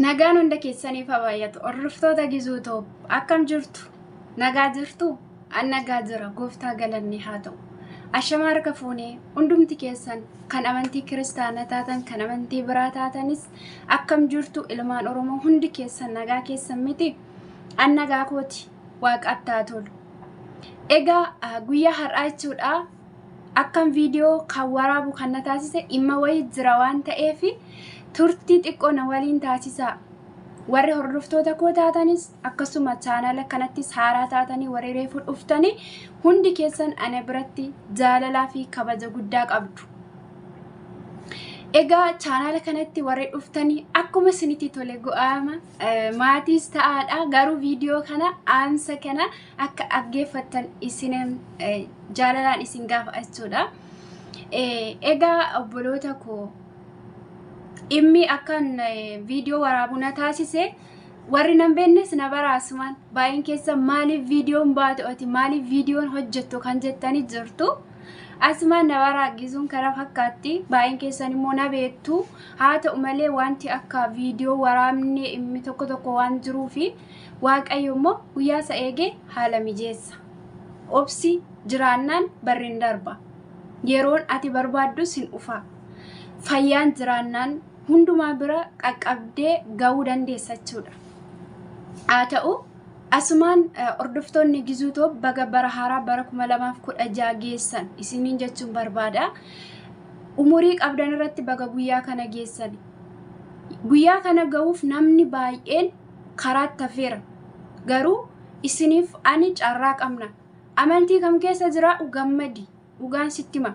Nagaan hunda keessaniif haa baay'atu. Hordoftoota Gizuu Toob akkam jirtu? Nagaa jirtu? An nagaa jira. Gooftaa galanni haa ta'u. Ashamaa harka fuunee hundumti keessan kan amantii kiristaanaa taatan kan amantii biraa taatanis akkam jirtu ilmaan Oromoo hundi keessan nagaa keessan miti? An nagaa kooti waaqaaf taa tolu. Egaa ah, guyyaa har'aa jechuudha Akkan viidiyoo kan waraabu kan na taasise dhimma wayii jira waan ta'eef turtii xiqqoo na waliin taasisaa. Warri hordoftoota koo taatanis akkasuma chaanaala kanattis haaraa taatanii warri reefuu dhuftanii hundi keessan ana biratti jaalalaa fi kabaja guddaa qabdu. Egaa chaanaala kanatti warri dhuftanii akkuma isinitti tole go'aama maatiis ta'aadha garuu viidiyoo kana aansa kana akka dhaggeeffattan isin jaalalaan isin gaafa jechuudha. Egaa obboloota koo dhimmi akkan viidiyoo waraabu na taasise warri nan beennes na baraasumaan baay'een keessa maaliif viidiyoon baatu ati maaliif viidiyoon hojjettu kan jettanii jirtu. Asumaan na baraagisuun kana fakkaatti baay'een keessan immoo na beektu haa ta'u malee wanti akka viidiyoo waraabne dhimmi tokko tokko waan jiruufi Waaqayyo immoo guyyaa isa eege haala mijeessa. Obsi jiraannaan barri hin darba. Yeroon ati barbaaddus hin dhufa. Fayyaan jiraannaan hundumaa bira qaqqabdee ga'uu dandeessa jechuudha. Haa ta'u asumaan hordoftoonni Gizuu Toob baga bara haaraa bara 2016 geessan isiniin jechuun barbaada. Umurii qabdan irratti baga guyyaa kana geessani. Guyyaa kana ga'uuf namni baay'een karaatti hafeera. Garuu isiniif ani carraa qabna. Amantii kam keessa jiraadhu gammadi. Dhugaan sitti hima.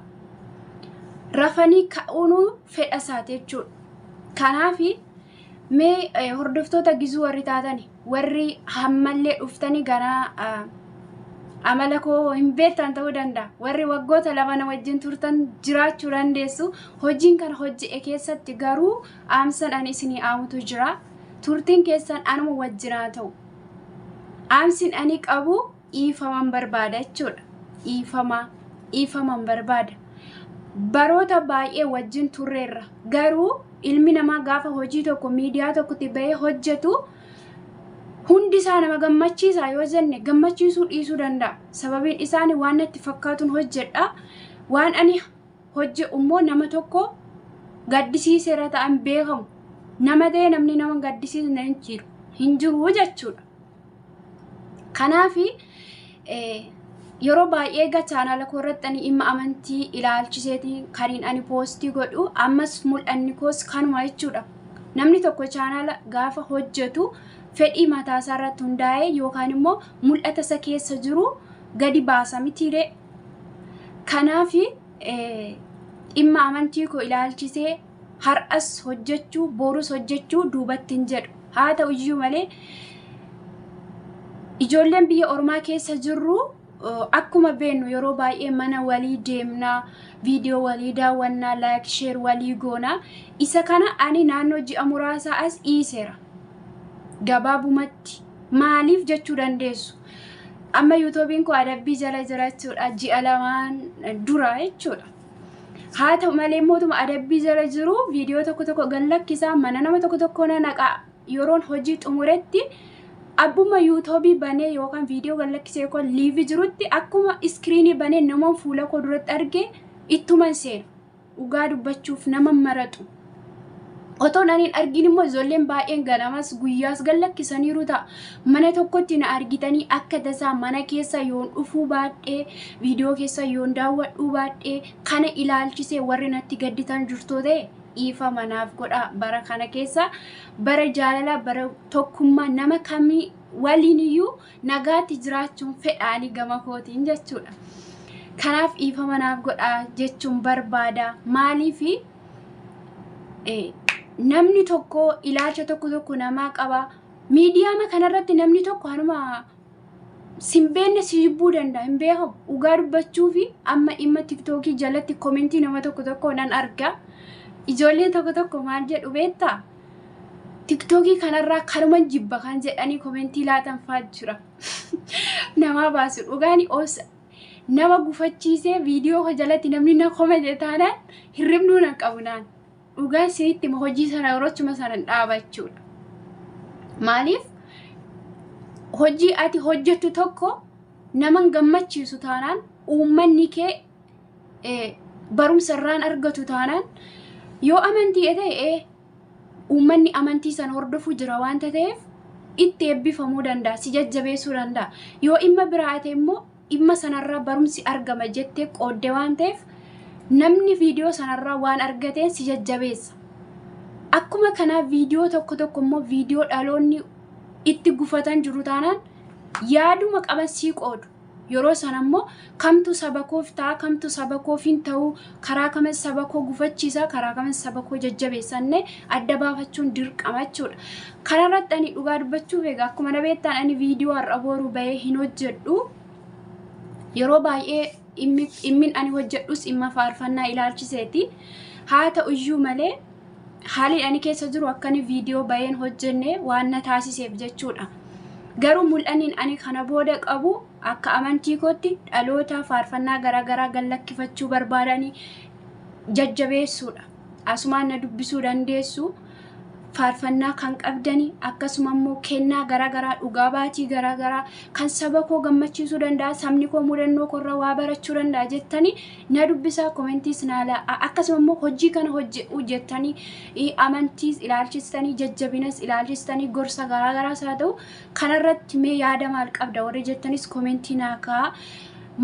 Rafanii ka'uunuu fedha isaati jechuudha. Kanaaf mee eh, hordoftoota gizuu warri taatani warri hammallee dhuftanii ganaa ah, amala koo hin beektan ta'uu danda'a. Warri waggoota lama na wajjin turtan jiraachuu dandeessu. Hojiin kana hojje'e keessatti garuu Dhaamsan ani isinii aamutu jira. Turtiin keessan anuma wajjin haa ta'u. Dhaamsin ani qabu dhiifaman barbaada jechuudha. Dhiifama, dhiifaman barbaada. Baroota baay'ee wajjin turreerra. Garuu ilmi namaa gaafa hojii tokko miidiyaa tokkotti bahee hojjetu hundi isaa nama gammachiisa yoo jenne gammachiisuu dhiisuu danda'a. Sababiin isaani waan natti fakkaatun hojjedha. Waan ani hojje ummoo nama tokko gaddisiiseera ta'an beekamu nama ta'ee namni nama gaddisiisne hin jiru hin jiru jechuudha. Kanaaf yeroo baay'ee egaa chaanaala koo irratti ani dhimma amantii ilaalchiseeti kaniin ani poostii godhu ammas mul'anni koos kanuma jechuudha. Namni tokko chaanaala gaafa hojjetu fedhii mataa isaa irratti hundaa'ee yookaan immoo mul'ata isa keessa jiru gadi baasa mitiiree Kanaaf dhimma amantii koo ilaalchisee har'as hojjechuu, borus hojjechuu duubatti hin jedhu. Haa ta'u iyyuu malee ijoolleen biyya ormaa keessa jirru akkuma beennu yeroo baay'ee mana walii deemnaa, viidiyoo walii daawwannaa, laayik sheer walii goonaa. Isa kana ani naannoo ji'a muraasaa as dhiiseera. Gabaabumatti maaliif jechuu dandeessu? Amma yuutuubiin koo adabbii jala jira jechuudha. Ji'a lamaan dura jechuudha. Haa ta'u malee mootuma adabbii jala jiru viidiyoo tokko tokko gad lakkisaa mana nama tokko tokko na naqa yeroon hojii xumuretti abbuma yuutuubii banee yookaan viidiyoo gad lakkisee yookaan liivii jirutti akkuma iskiriinii banee namoon fuula koo duratti arge ittuman seenu. dhugaa dubbachuuf nama maraxu otoon ani hin argin immoo ijoolleen baay'een ganamas guyyaas gad lakkisaniiru ta'a. Mana tokkotti na argitanii akka tasaa mana keessa yoon dhufuu baadhee viidiyoo keessa yoon daawwadhuu baadhee kana ilaalchisee warri natti gadditan jirtoo ta'e dhiifama naaf godhaa bara kana keessa bara jaalalaa bara tokkummaa nama kamii waliin iyyuu nagaatti jiraachuun fedhaanii gama kootiin jechuudha. Kanaaf dhiifama naaf godhaa jechuun barbaada. Maaliif namni tokko ilaalcha tokko tokko namaa qaba. Miidiyaama kanarratti namni tokko hanuma simbeenne si jibbuu danda'a hin beekamu. Dhugaa dubbachuu fi amma dhimma tiktookii jalatti komentii nama tokko tokko nan arga. Ijoolleen tokko tokko maal jedhu beektaa? Tiktookii kanarraa kanuman jibba kan jedhanii komentii laatan faa jira. Namaa baasu dhugaani obsa. Nama gufachiisee viidiyoo koo jalatti namni na komete taanaan hirribnuu nan qabu naan. Dhugaan siritti ma hojii sana yeroochuma sanan dhaaba jechuudha. Maaliif hojii ati hojjettu tokko naman gammachiisu taanaan uummanni kee barumsa irraan argatu taanaan yoo amantii ta'e uummanni amantii san hordofuu jira waanta ta'eef itti eebbifamuu danda'a si jajjabeessuu danda'a yoo dhimma biraa ta'e immoo dhimma sanarraa barumsi argama jettee qoodde waan ta'eef namni viidiyoo sanarraa waan argateen si jajjabeessa. Akkuma kanaa viidiyoo tokko tokko immoo viidiyoo dhaloonni itti gufatan jiru taanaan yaaduma qaban sii qoodu. Yeroo sana immoo kamtu saba koof ta'a, kamtu saba koof hin ta'u, karaa kamin saba koo gufachiisa, karaa kamin saba koo jajjabeessa innee adda baafachuun dirqama jechuudha. Kanarratti ani dhugaa dubbachuuf egaa akkuma na beektaan ani viidiyoo har'a booruu bahee hin hojjedhu. Yeroo baay'ee dhimmi- dhimmin ani hojjedhus dhimma faarfannaa ilaalchiseeti. Haa ta'u iyyuu malee Haalii ani keessa jiru akkani viidiyoo bayeen hojjenne waan na taasiseef jechuudha. Garuu mul'anniin ani kana booda qabu akka amantii kootti dhaloota faarfannaa garaagaraa gallakkifachuu barbaadani jajjabeessuudha. Asumaan na dubbisuu dandeessu faarfannaa kan qabdani akkasuma immoo kennaa garaagaraa dhugaa baatii garaagaraa kan saba koo gammachiisuu danda'a sabni koo mudannoo korra waa barachuu danda'a jettani na dubbisaa komentiis naa laa'a akkasuma immoo hojii kana hojjedhu jettanii ii, amantiis ilaalchistanii jajjabinas ilaalchistanii gorsa garaagaraas haa ta'u kanarratti mee yaada maal qabda warri jettanis komentii naa kaa'a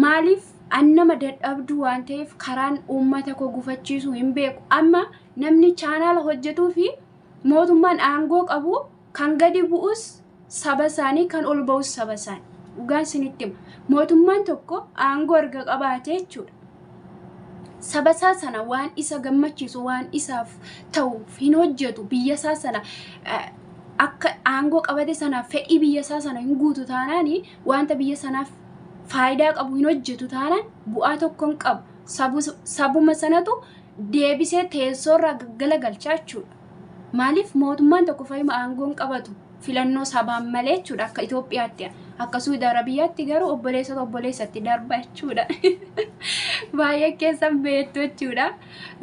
maaliif an nama dadhabduu waan ta'eef karaan uummata koo gufachiisu hin beeku amma namni chaanaala hojjetuu fi mootummaan aangoo qabu Kan gadi bu'us saba isaanii, kan ol ba'us saba isaanii. Dhugaan isinitti hima. Mootummaan tokko aangoo erga qabaatee jechuudha. Saba isaa sana waan isa gammachiisu, waan isaaf ta'uuf hin hojjetu, biyya isaa sana eh, akka aangoo qabate sanaaf fedhii biyya isaa sana hin guutu taanaan wanta biyya sanaaf faayidaa qabu hin hojjetu taanaan bu'aa tokko hin qabu. Sabu- Sabuma sanatu deebisee teessoorraa gaggalagalchaa jechuudha. Maaliif mootummaan tokko fayyuma aangoon qabatu filannoo sabaan malee jechuudha akka Itoophiyaatti akka Suudi Arabiyaatti garuu obboleessota obboleessatti darba jechuudha. Baay'ee keessan beektu jechuudha.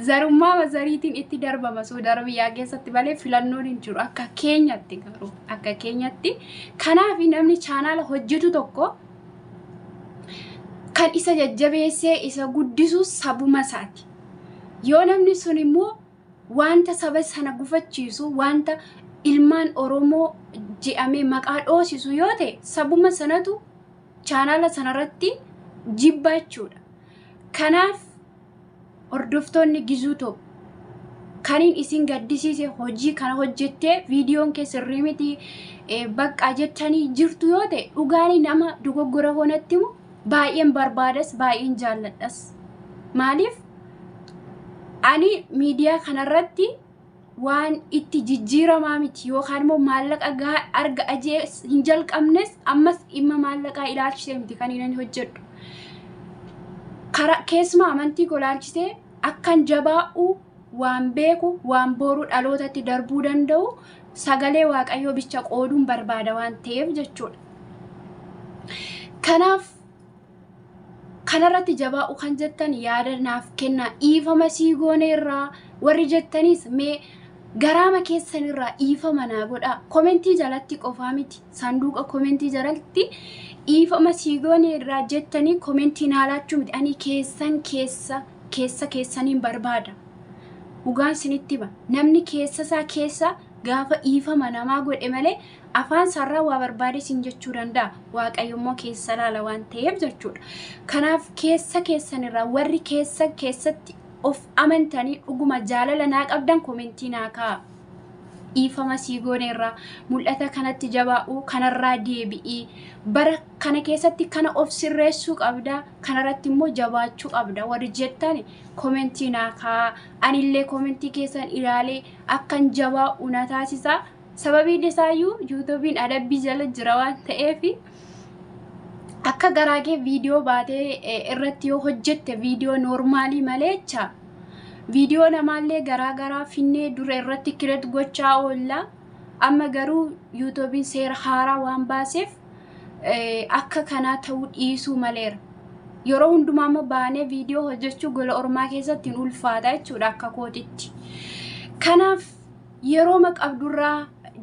Zarummaa mazariitiin itti darbama Suudi Arabiyaa keessatti malee filannoon hin jiru akka keenyatti garuu akka keenyatti. Kanaaf namni chaanaala hojjetu tokko kan isa jajjabeessee isa guddisu sabuma isaati. Yoo namni sun immoo Wanta saba sana gufachiisu, wanta ilmaan Oromoo je'amee maqaa dhoosisu yoo ta'e sabuma sanatu chaanaala sanarratti jibba jechuudha. Kanaaf hordoftoonni Gizuu Top kaniin isin gaddisiise hojii kana hojjettee viidiyoon kee sirrii miti eh, baqqaa jettanii jirtu yoo ta'e dhugaanii nama dogoggora honatti himu baay'een barbaadas baay'een jaalladhas. Maaliif Ani miidiyaa kanarratti waan itti jijjiiramaa miti yookaan immoo maallaqa gahaa arga ajees hin jalqabnes ammas dhimma maallaqaa ilaalchisee miti kan inni hojjedhu. Kara keessumaa amantii koo ilaalchisee akkan jabaa'u waan beeku waan booruu dhalootatti darbuu danda'u sagalee waaqayyoo bicha qooduun barbaada waan ta'eef jechuudha. Kanaaf kanarratti jabaa'u kan jettan yaada naaf kennaa dhiifama sii goone irraa warri jettaniis mee garaama keessan irraa dhiifama naa godhaa komentii jalatti qofaa miti sanduuqa komentii jalatti dhiifama sii goone irraa jettanii komentii naa laachuu miti ani keessan keessa keessa keessaniin barbaada dhugaan sinitti hima namni keessa isaa keessa Gaafa dhiifama namaa godhe malee afaan isaarraa waa barbaade siin jechuu danda'a. Waaqayyo immoo keessa laala waan ta'eef jechuudha. Kanaaf keessa keessanirraa warri keessa keessatti of amantanii dhuguma jaalala naa qabdan komentii naa kaa'a. Dhiifama sii gooneerraa mul'ata kanatti jabaa'uu kanarraa deebi'ii bara kana keessatti kana of sirreessuu qabda kanarratti immoo jabaachuu qabda warri jettan komentii naa kaa'a. Anillee komentii keessan ilaalee akkan jabaa'u na taasisa. Sababiin isaayyuu yuutuubiin adabbii jala jira waan ta'eef akka garaa kee viidiyoo baatee eh, irratti yoo hojjette viidiyoo noormaalii malee jecha viidiyoo namaallee garaa garaa finnee dura irratti kireet gochaa oolla. Amma garuu yuutuubiin seera haaraa waan baaseef akka kanaa ta'uu dhiisuu maleera. Yeroo hundumaa immoo baanee viidiyoo hojjechuu gola ormaa keessatti hin ulfaata jechuudha akka kootitti. Kanaaf yeroo maqabdurraa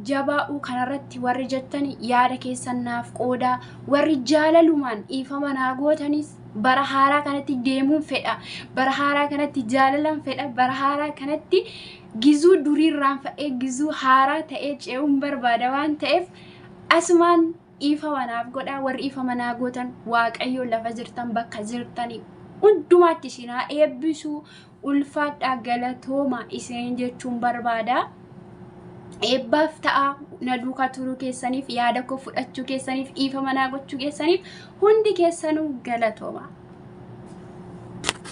jabaa'uu kanarratti warri jettan yaada keessan naaf qoodaa warri jaalalumaan dhiifama naa gootanis bara haaraa kanatti deemuun fedha bara haaraa kanatti jaalalan fedha bara haaraa kanatti gizuu duriirraan fa'ee gizuu haaraa ta'ee ce'uun barbaada waan ta'eef Asumaan dhiifama naaf godhaa warri dhiifama naa gootan waaqayyo lafa jirtan bakka jirtanii hundumaatti isin haa eebbisu ulfaadhaa galatooma isin jechuun barbaada. Eebbaaf ta'a na duukaa turuu keessaniif yaada koo fudhachuu keessaniif dhiifama naa gochuu keessaniif hundi keessanuu galatooma.